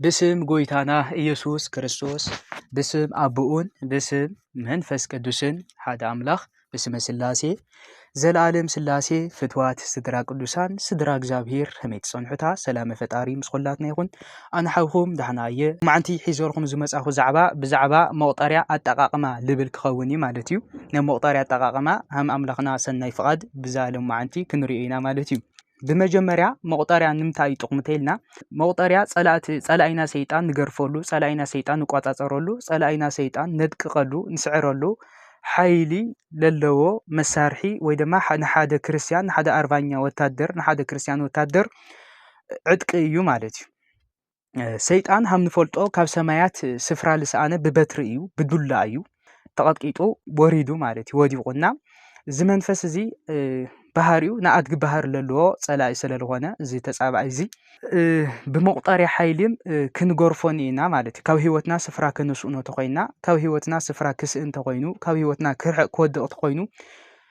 ብስም ጎይታና ኢየሱስ ክርስቶስ ብስም ኣቦኡን ብስም መንፈስ ቅዱስን ሓደ ኣምላኽ ብስመ ስላሴ ዘለዓለም ስላሴ ፍትዋት ስድራ ቅዱሳን ስድራ እግዚኣብሔር ከመይ ትጸንሑታ ሰላመ ፈጣሪ ምስ ኹላትና ይኹን ኣነ ሓውኹም ዳሕና እየ መዓንቲ ሒዘልኩም ዝመጻኹ ዛዕባ ብዛዕባ መቁጠርያ ኣጠቃቅማ ልብል ክኸውን እዩ ማለት እዩ ናይ መቁጠርያ ኣጠቃቅማ ሃም ኣምላኽና ሰናይ ፍቓድ ብዛሎም መዓንቲ ክንሪኦ ኢና ማለት እዩ ብመጀመርያ መቁጠርያ ንምንታይ እዩ ጥቅሙ እንተይልና መቁጠርያ ፀላኢና ሰይጣን ንገርፈሉ ፀላኢና ሰይጣን ንቆፃፀረሉ ፀላኢና ሰይጣን ነድቅቀሉ ንስዕረሉ ሓይሊ ለለዎ መሳርሒ ወይ ድማ ንሓደ ክርስትያን ንሓደ ኣርባኛ ወታደር ንሓደ ክርስትያን ወታደር ዕጥቂ እዩ ማለት እዩ። ሰይጣን ሃም ንፈልጦ ካብ ሰማያት ስፍራ ልስኣነ ብበትሪ እዩ ብዱላ እዩ ተቐጥቂጡ ወሪዱ ማለት እዩ ወዲቑና እዚ መንፈስ እዚ ባህሪኡ ንኣድጊ ባህር ዘለዎ ፀላኢ ስለዝኾነ እዚ ተፃባኢ እዚ ብመቁጠሪያ ሓይሊን ክንገርፎን ኢና ማለት እዩ ካብ ህይወትና ስፍራ ክንስእኖ ተኮይና ካብ ህይወትና ስፍራ ክስእን ተኮይኑ ካብ ህይወትና ክርሕቅ ክወድቕ ተኮይኑ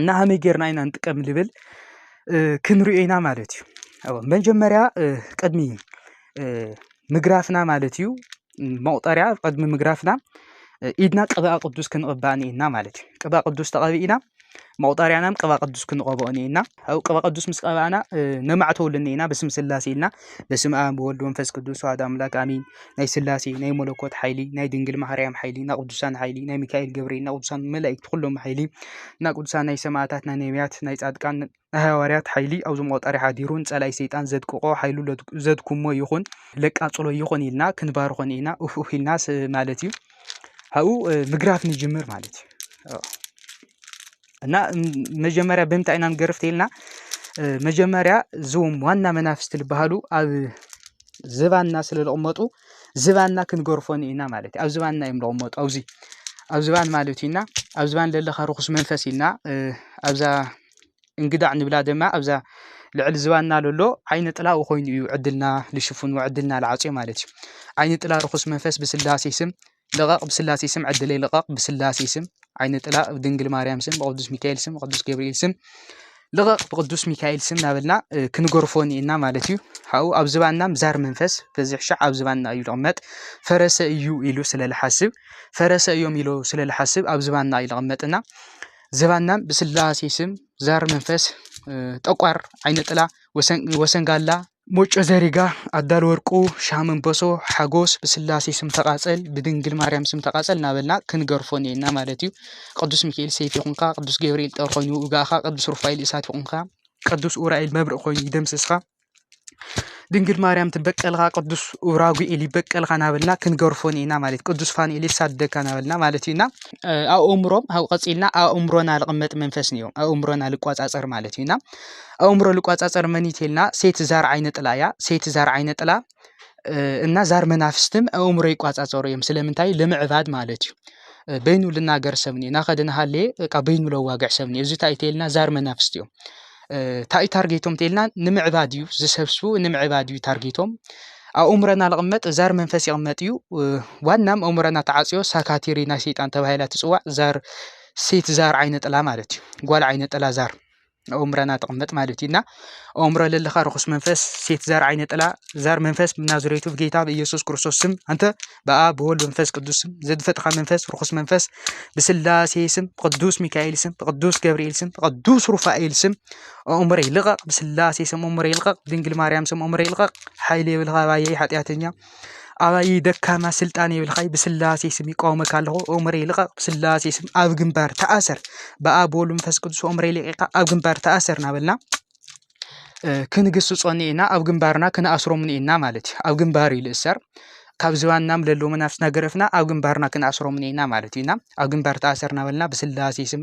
እና ሃመይ ጌርና ኢና ንጥቀም ልብል ክንሪኦ ኢና ማለት እዩ ኣብ መጀመርያ ቅድሚ ምግራፍና ማለት እዩ መቁጠርያ ቅድሚ ምግራፍና ኢድና ቅባ ቅዱስ ክንቕባእ ንኢና ማለት እዩ ቅባ ቅዱስ ተቐቢእና መቁጠርያና ቅባ ቅዱስ ክንቐብኦ ንኢና ኣብ ቅባ ቅዱስ ምስ ቀባእና ነማዕተውሉ ንኢና ብስም ስላሴ ኢልና በስም ኣብ ብወልድ መንፈስ ቅዱስ ዋሕድ ኣምላክ ኣሚን ናይ ስላሴ ናይ መለኮት ሓይሊ ናይ ድንግል ማርያም ሓይሊ ናይ ቅዱሳን ሓይሊ ናይ ሚካኤል ገብርኤል ናይ ቅዱሳን መላእክቲ ኩሎም ሓይሊ ናይ ቅዱሳን ናይ ሰማዕታት ናይ ነቢያት ናይ ጻድቃን ናይ ሃዋርያት ሓይሊ ኣብዚ መቆጣሪ ሓዲሩን ጸላይ ሰይጣን ዘድቅቆ ሓይሉ ዘድኩሞ ይኹን ለቃጽሎ ይኹን ኢልና ክንባርኾ ኢና ኡፍ ኡፍ ኢልና ማለት እዩ ኣብኡ ምግራፍ ንጅምር ማለት እዩ እና መጀመርያ ብምንታይ ኢና ንገርፍ ተይልና መጀመርያ እዞም ዋና መናፍስቲ ዝበሃሉ ኣብ ዝባንና ስለ ዝቕመጡ ዝባንና ክንገርፎን ኢና ማለት እዩ ኣብ ዝባንና እዮም ዝቕመጡ ኣብዚ ኣብ ዝባን ማለት እዩና ኣብ ዝባን ዘለካ ርኩስ መንፈስ ኢልና ኣብዛ እንግዳዕ ንብላ ድማ ኣብዛ ልዕሊ ዝባንና ዘሎ ዓይነ ጥላዊ ኮይኑ እዩ ዕድልና ልሽፍኑ ዕድልና ልዓፅዮ ማለት እዩ ዓይነ ጥላ ርኩስ መንፈስ ብስላሴ ስም ልቐቕ ብስላሴ ስም ዕድለይ ልቐቕ ብስላሴ ስም ዓይነ ጥላ ብድንግል ማርያም ስም ብቅዱስ ሚካኤል ስም ብቅዱስ ገብርኤል ስም ልቐቕ ብቅዱስ ሚካኤል ስም ናበልና ክንገርፎ ኒኤና ማለት እዩ ሓኡ ኣብ ዝባንና ምዛር መንፈስ በዚሕ ሻዕ ኣብ ዝባንና እዩ ልቕመጥ ፈረሰ እዩ ኢሉ ስለ ልሓስብ ፈረሰ እዮም ኢሉ ስለ ልሓስብ ኣብ ዝባንና እዩ ልቕመጥና ዝባንናም ብስላሴ ስም ዛር መንፈስ ጠቋር ዓይነ ጥላ ወሰንጋላ ሞጮ ዘሪጋ ኣዳል ወርቁ ሻምበሶ ሓጎስ ብስላሴ ስም ተቃፀል ብድንግል ማርያም ስም ተቃፀል እናበልና ክንገርፎ እኒኤና ማለት እዩ ቅዱስ ሚኪኤል ሰይፊ ይኩንካ ቅዱስ ገብሪኤል ጦር ኮይኑ ይውጋእካ ቅዱስ ሩፋኤል እሳት ይኩንካ ቅዱስ ኡራኤል መብርቅ ኮይኑ ይደምስስካ ድንግል ማርያም ትበቀልካ ቅዱስ ኡራጉኤል ይበቀልካ እናበልና ክንገርፎ እኒኤና ማለት ቅዱስ ፋኑኤል ይሳደካ እናበልና ማለት እዩ እና ኣእምሮም ኣብ ቀፂልና ኣእምሮና ልቅመጥ መንፈስ እኒኦ ኣእምሮና ልቆፃፀር ማለት እዩ እና ኣእምሮ ልቋጻጸር መን እዩ ተይልና ሴት ዛር ዓይነ ጥላ እያ ሴት ዛር ዓይነ ጥላ እና ዛር መናፍስትም ኣእምሮ ይቋጻጸሩ እዮም ስለምንታይ ለምዕባድ ማለት እዩ በይኑ ልናገር ሰብ እየ ናኸደና ሃለየ እቃ በይኑ ለዋግዕ ሰብ እየ እዚ እንታይ ተይልና ዛር መናፍስት እዮም ታዩ ታርጌቶም ተይልና ንምዕባድ እዩ ዝሰብስቡ ንምዕባድ እዩ ታርጌቶም ኣእምሮና ልቕመጥ ዛር መንፈስ ይቕመጥ እዩ ዋናም ኣእምሮና ተዓፅዮ ሳካቴሪ ናይ ሰይጣን ተባሂላ ትፅዋዕ ዛር ሴት ዛር ዓይነ ጥላ ማለት እዩ ጓል ዓይነ ጥላ ዛር ኣእምሮና ተቐመጥ ማለት እዩ እና ኣእምሮ ለለኻ ርኩስ መንፈስ ሴት ዛር ዓይነ ጥላ ዛር መንፈስ ናዝሬቱ ብጌታ ብኢየሱስ ክርስቶስ ስም ኣንተ ብኣብ ብወልድ መንፈስ ቅዱስ ስም ዘድፈጥኻ መንፈስ ርኩስ መንፈስ ብስላሴ ስም ብቅዱስ ሚካኤል ስም ብቅዱስ ገብርኤል ስም ብቅዱስ ሩፋኤል ስም ኣእምሮ ይልቐቕ ብስላሴ ስም ኣእምሮ ይልቐቕ ድንግል ማርያም ስም ኣእምሮ ይልቐቕ ሓይሊ የብልኻ ባየ ሓጢኣተኛ ኣባይ ደካማ ስልጣን የብልካይ ብስላሴ ስም ይቃወመካ ኣለኹ ኦምሬ ልቐቕ ብስላሴ ስም ኣብ ግንባር ተኣሰር ብኣብ ወወልድ መንፈስ ቅዱስ ኦምሬ ልቂቃ ኣብ ግንባር ተኣሰር እናበልና ክንግስፆ እኒኤና ኣብ ግንባርና ክንኣስሮም እኒኤና ማለት እዩ ኣብ ግንባር እዩ ልእሰር ካብ ዝባናም ለለዎ መናፍስና ገረፍና ኣብ ግንባርና ክንኣስሮም እኒኤና ማለት እዩና ኣብ ግንባር ተኣሰር እናበልና ብስላሴ ስም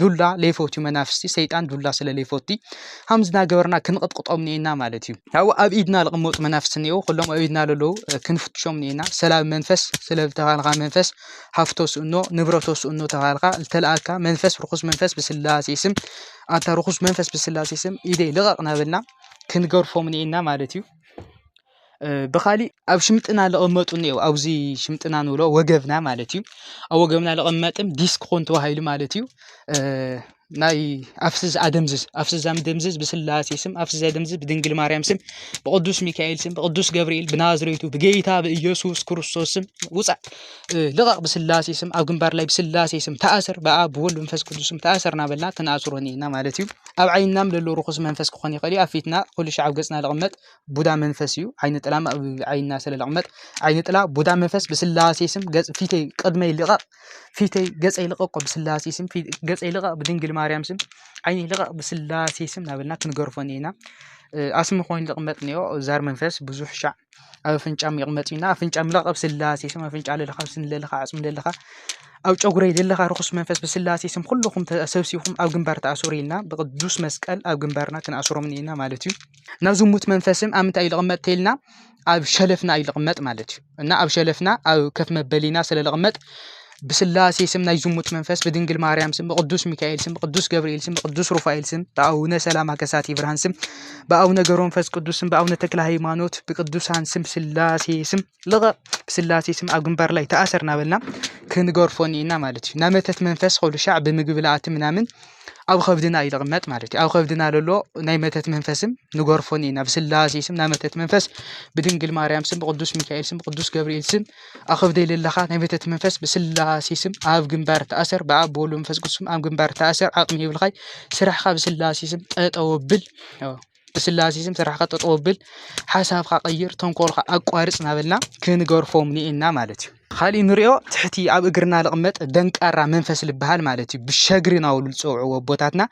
ዱላ ለይፈትዩ መናፍስቲ ሰይጣን ዱላ ስለ ለይፈቲ ከምዚ እናገበርና ክንቕጥቅጦም ኒኤና ማለት እዩ ካብኡ ኣብ ኢድና ዝቕመጡ መናፍስቲ ኒኤው ኩሎም ኣብ ኢድና ለለዉ ክንፍትሾም ኒኤና ሰላቢ መንፈስ ስለ ዝተባሃልካ መንፈስ ሃፍቶ ስእኖ ንብረቶ ስእኖ ተባሃልካ ዝተለኣካ መንፈስ ርኹስ መንፈስ ብስላሴ ስም ኣታ ርኹስ መንፈስ ብስላሴ ስም ኢደይ ልቐቕ ናበልና ክንገርፎም ኒኤና ማለት እዩ ብካሊእ ኣብ ሽምጥና ዝቅመጡ እንሄው ኣብዚ ሽምጥና ንብሎ ወገብና ማለት እዩ ኣብ ወገብና ዝቅመጥ ዲስክ ኮን ተባሂሉ ማለት እዩ ናይ ኣፍስዝ ኣደምዝዝ ኣፍስዝ ኣምደምዝዝ ብስላሴ ስም ኣፍስዝ ኣደምዝዝ ብድንግል ማርያም ስም ብቅዱስ ሚካኤል ስም ብቅዱስ ገብርኤል ብናዝሬቱ ብጌታ ብኢየሱስ ክርስቶስ ስም ውፃእ ልቐቕ ብስላሴ ስም ኣብ ግንባር ላይ ብስላሴ ስም ተኣሰር ብኣብ ብወልድ መንፈስ ቅዱስ ስም ተኣሰር እናበልና ከነኣስሮ እኒኤና ማለት እዩ ኣብ ዓይንና ለሎ ርኩስ መንፈስ ክኾን ይኽእል እዩ ኣብ ፊትና ኩሉ ሻዕ ኣብ ገፅና ዝቕመጥ ቡዳ መንፈስ እዩ። ዓይኒ ጥላ እማ ኣብ ዓይንና ስለ ዝቕመጥ ዓይኒ ጥላ ቡዳ መንፈስ ብስላሴ ስም ገጽ ፊተይ ቅድመይ ልቐቕ፣ ፊተይ ገጸይ ልቐቆ ብስላሴ ስም፣ ገጸይ ልቐቕ ብድንግል ማርያም ስም፣ ዓይነይ ልቐቕ ብስላሴ ስም እናበልና ክንገርፎ እኒኤና። ኣስሚ ኮይኑ ዝቕመጥ እኒኦ ዛር መንፈስ ብዙሕ ሻዕ ኣብ ኣፍንጫም ይቕመጥ እዩና ኣፍንጫም ልቐቕ ብስላሴ ስም፣ ኣፍንጫ ለለኻ፣ ስኒ ለለኻ፣ ዓጽሚ ለለኻ ኣብ ጨጉረይ ዘለኻ ርኹስ መንፈስ ብስላሴ ስም ኩልኹም ተሰብሲብኩም ኣብ ግንባር ተኣሰሩ ኢልና ብቅዱስ መስቀል ኣብ ግንባርና ክንኣስሮም እኒኤና ማለት እዩ። እና ዝሙት መንፈስም ኣብ ምንታይ እዩ ዝቕመጥ ተይልና ኣብ ሸለፍና እዩ ዝቕመጥ ማለት እዩ እና ኣብ ሸለፍና ኣብ ከፍ መበሊና ስለ ዝቕመጥ ብስላሴ ስም ናይ ዝሙት መንፈስ ብድንግል ማርያም ስም ብቅዱስ ሚካኤል ስም ብቅዱስ ገብርኤል ስም ብቅዱስ ሩፋኤል ስም ብኣቡነ ሰላማ ከሳቴ ብርሃን ስም ብኣቡነ ገብረ መንፈስ ቅዱስ ስም ብኣቡነ ተክለ ሃይማኖት ብቅዱሳን ስም ስላሴ ስም ልቐቕ ብስላሴ ስም ኣብ ግንባር ላይ ተኣሰር እናበልና ክንገርፎ እኒኤና ማለት እዩ። ናመተት መንፈስ ኮሉሻዕ ብምግቢ ለኣቲ ምናምን ኣብ ከብድና እዩ ልቕመጥ ማለት እዩ። ኣብ ከብድና ለሎ ናይ መተት መንፈስም ንገርፎ እኒኤና ብስላሴ ስም ናመተት መንፈስ ብድንግል ማርያም ስም ብቅዱስ ሚካኤል ስም ብቅዱስ ገብርኤል ስም ኣኸብደይ ለለኻ ናይ መተት መንፈስ ብስላሴ ስም ኣብ ግንባር ተኣሰር ብኣብ ብወልድ መንፈስ ቅዱስ ስም ኣብ ግንባር ተኣሰር ዓቕሚ የብልኻይ ስራሕኻ ብስላሴ ስም ጠጠወ ብል ብስላ ኣዚዞም ስራሕካ ጠጠው ኣብል ሓሳብካ ቀይር ተንኮልካ ኣቋርፅ እናበልና ክንገርፎም እኒኤና ማለት እዩ። ካሊእ ንሪኦ ትሕቲ ኣብ እግርና ዝቕመጥ ደንቃራ መንፈስ ዝበሃል ማለት እዩ ብሸግሪ ናበሉ ዝፀውዕዎ ኣቦታትና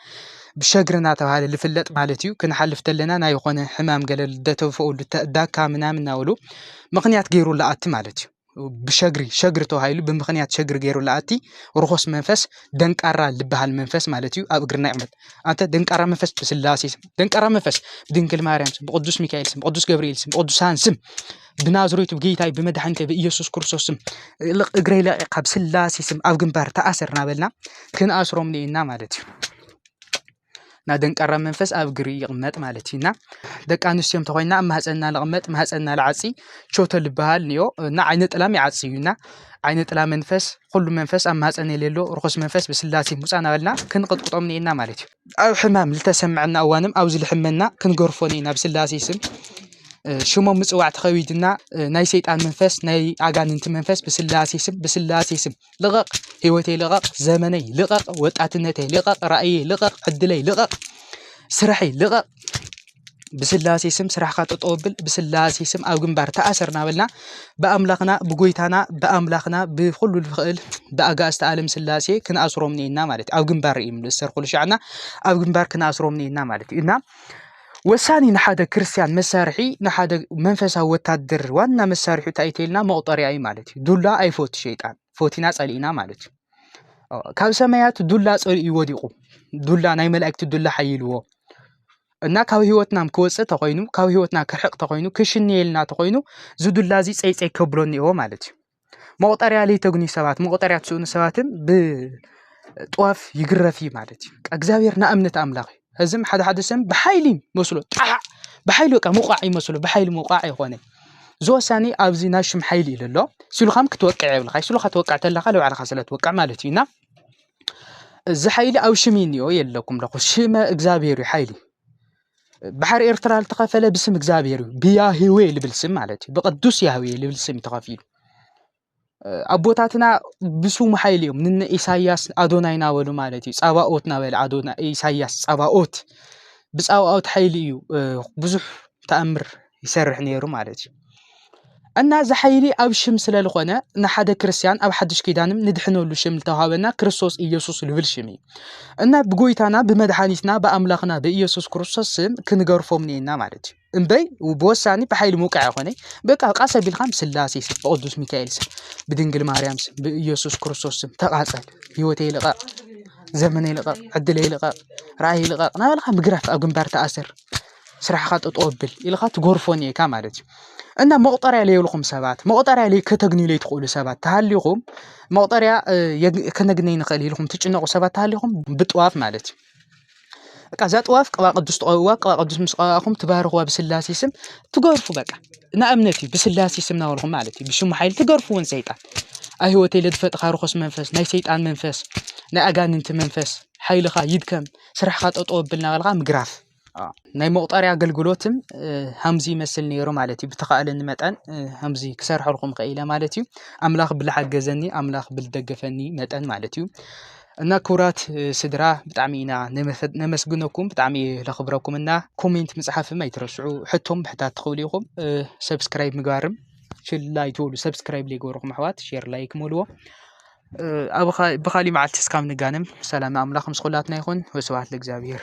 ብሸግሪ እናተባህለ ዝፍለጥ ማለት እዩ ክንሓልፍ ተለና ናይ ዝኾነ ሕማም ገለ ልደተውፈኡ ዳካ ምናምን እናበሉ ምኽንያት ገይሩ ዝኣቲ ማለት እዩ። ብሸግሪ ሸግሪ ተባሂሉ ብምኽንያት ሸግሪ ገይሩ ልኣቲ ርኹስ መንፈስ ደንቃራ ልበሃል መንፈስ ማለት እዩ ኣብ እግርና ይቕመጥ ኣንተ ደንቃራ መንፈስ ብስላሴ ስም ደንቃራ መንፈስ ብድንግል ማርያም ስም ብቅዱስ ሚካኤል ስም ብቅዱስ ገብርኤል ስም ብቅዱሳን ስም ብናዝሬቱ ብጌታይ ብመድሓኒተይ ብኢየሱስ ክርስቶስ ስም ልቕ እግረይ ለቒቕካ ብስላሴ ስም ኣብ ግንባር ተኣሰር እናበልና ክንኣስሮም ንኤና ማለት እዩ እና ደንቃራ መንፈስ ኣብ ግሪ ይቕመጥ ማለት እዩና ደቂ ኣንስትዮ እንተኮይና ኣብ ማህፀንና ንቕመጥ ማህፀንና ልዓፂ ቾቶ ልበሃል ንዮ እና ዓይነ ጥላም ይዓፅ እዩና ዓይነ ጥላ መንፈስ ኩሉ መንፈስ ኣብ ማህፀን የሌሎ ርኩስ መንፈስ ብስላሴ ሙፃእ ናበልና ክንቕጥቅጦም ንኤና ማለት እዩ ኣብ ሕማም ዝተሰምዐና እዋንም ኣብዚ ልሕመና ክንገርፎ ንኤና ብስላሴ ስም ሽሞም ምፅዋዕ ተኸዊድና ናይ ሰይጣን መንፈስ ናይ ኣጋንንቲ መንፈስ ብስላሴ ስም ብስላሴ ስም ልቐቕ ሂወተይ ልቐቕ ዘመነይ ልቐቕ ወጣትነተይ ልቐቕ ራእየይ ልቐቕ ዕድለይ ልቐቕ ስርሐይ ልቐቕ ብስላሴ ስም ስራሕኻ ጠጠው ኣብል ብስላሴ ስም ኣብ ግንባር ተኣሰር እናበልና ብኣምላኽና ብጎይታና ብኣምላኽና ብኩሉ ዝኽእል ብኣጋእዝተ ዓለም ስላሴ ክንኣስሮም እኒኤና ማለት እዩ ኣብ ግንባር እዮም ዝእሰር ኩሉ ሻዕና ኣብ ግንባር ክንኣስሮም እኒኤና ማለት እዩ እና ወሳኒ ንሓደ ክርስትያን መሳርሒ ንሓደ መንፈሳዊ ወታደር ዋና መሳርሒ እንታይ ተይልና መቁጠሪያ እዩ ማለት እዩ ዱላ ኣይፎቲ ሸይጣን ፎቲና ጸሊእና ማለት እዩ ካብ ሰማያት ዱላ ፀሪኡ ወዲቑ ዱላ ናይ መላእክቲ ዱላ ሓይልዎ እና ካብ ህይወትና ክወፅእ ተኮይኑ ካብ ህይወትና ክርሕቅ ተኮይኑ ክሽንየልና ተኮይኑ ዝዱላ እዚ ፀይፀይ ከብሎ እኒኦ ማለት እዩ መቑፀርያ ለይተግንዩ ሰባት መቑፀርያ ትስእኑ ሰባትን ብጥዋፍ ይግረፍ እዩ ማለት እዩ። እግዚኣብሔር ንኣብነት ኣምላኽ እዩ። እዝም ሓደ ሓደ ሰብ ብሓይሊ መስሎ ጣዕ ብሓይሊ በቃ ምቋዕ እዩ መስሎ ብሓይሊ ምቋዕ ኣይኾነን። ዝወሳኒ ኣብዚ ናይ ሽም ሓይሊ ኢሉ ኣሎ ስኢሉኻም ክትወቅዕ የብልኻ ስኢሉኻ ተወቅዕ ተለኻ ንባዕልኻ ስለ ትወቅዕ ማለት እዩ እና እዚ ሓይሊ ኣብ ሽም እዩ ዝኒኦ የለኩምዶ ሽመ እግዚኣብሔር እዩ ሓይሊ ባሕሪ ኤርትራ ዝተኸፈለ ብስም እግዚኣብሔር እዩ ብያህዌ ልብል ስም ማለት እዩ ብቅዱስ ያህዌ ልብል ስም ተኸፊሉ ኣቦታትና ብስሙ ሓይል እዮም ንነ ኢሳያስ ኣዶናይ ናበሉ ማለት እዩ ፃባኦት ናበለ ኣዶና ኢሳያስ ፃባኦት ብፃባኦት ሓይሊ እዩ ብዙሕ ተኣምር ይሰርሕ ነይሩ ማለት እዩ እና እዚ ሓይሊ ኣብ ሽም ስለ ዝኾነ ንሓደ ክርስቲያን ኣብ ሓድሽ ኪዳንም ንድሕነሉ ሽም ዝተዋሃበና ክርስቶስ ኢየሱስ ልብል ሽም እዩ እና ብጎይታና ብመድሓኒትና ብኣምላኽና ብኢየሱስ ክርስቶስ ስም ክንገርፎም ኔና ማለት እዩ እምበይ ብወሳኒ ብሓይሊ ምውቃዕ ይኾነ በቃ ቃሰ ቢልካ ብስላሴ ስም ብቅዱስ ሚካኤል ስም ብድንግል ማርያም ስም ብኢየሱስ ክርስቶስ ስም ተቃፀል ህይወተ ይልቐቕ ዘመነ ይልቐቕ ዕድለ ይልቐቕ ራእይ ይልቐቕ ናበልካ ምግራፍ ኣብ ግንባር ተኣስር ስራሕኻ ጠጠው ኣብል ኢልኻ ትጎርፎ እኒኤካ ማለት እዩ። እና መቁጠርያ ለየብልኩም ሰባት መቁጠርያ ከተግንዩ ለይትኽእሉ ሰባት ተሃሊኹም መቁጠርያ ከነግነይ ንኽእል ኢልኹም ትጭነቁ ሰባት ተሃሊኹም ብጥዋፍ ማለት እዩ በቃ እዛ ጥዋፍ ቅባ ቅዱስ ትቐብዋ ቅባ ቅዱስ ምስ ቀባእኹም ትባርኽዋ ብስላሴ ስም ትገርፉ በቃ ንኣብነት እዩ ብስላሴ ስም ናበልኹም ማለት እዩ ብሽሙ ሓይሊ ትገርፍዎን ሰይጣን ኣብ ህይወተይ ለድፈጥኻ ርኹስ መንፈስ ናይ ሰይጣን መንፈስ ናይ ኣጋንንቲ መንፈስ ሓይልኻ ይድከም ስራሕኻ ጠጠው ኣብል እናበልካ ምግራፍ ናይ መቁጠሪ ኣገልግሎትም ሃምዚ ይመስል ነይሩ ማለት እዩ ብተኸእለኒ መጠን ሃምዚ ክሰርሐልኩም ከኢለ ማለት እዩ ኣምላኽ ብልሓገዘኒ ኣምላኽ ብልደገፈኒ መጠን ማለት እዩ እና ክብራት ስድራ ብጣዕሚ ኢና ነመስግነኩም ብጣዕሚ እዩ ለኽብረኩም እና ኮሜንት ምፅሓፍም ኣይትረስዑ ሕቶም ብሕታት ትኽእሉ ኢኹም ሰብስክራይብ ምግባርም ችላ ኣይትበሉ ሰብስክራይብ ዘይገበርኹም ኣሕዋት ሼር ላይክ መልዎ ብኻሊእ መዓልቲ እስካብ ንጋነን ሰላም ኣምላኽ ምስ ኹላትና ይኹን ወስብሃት ለእግዚኣብሔር።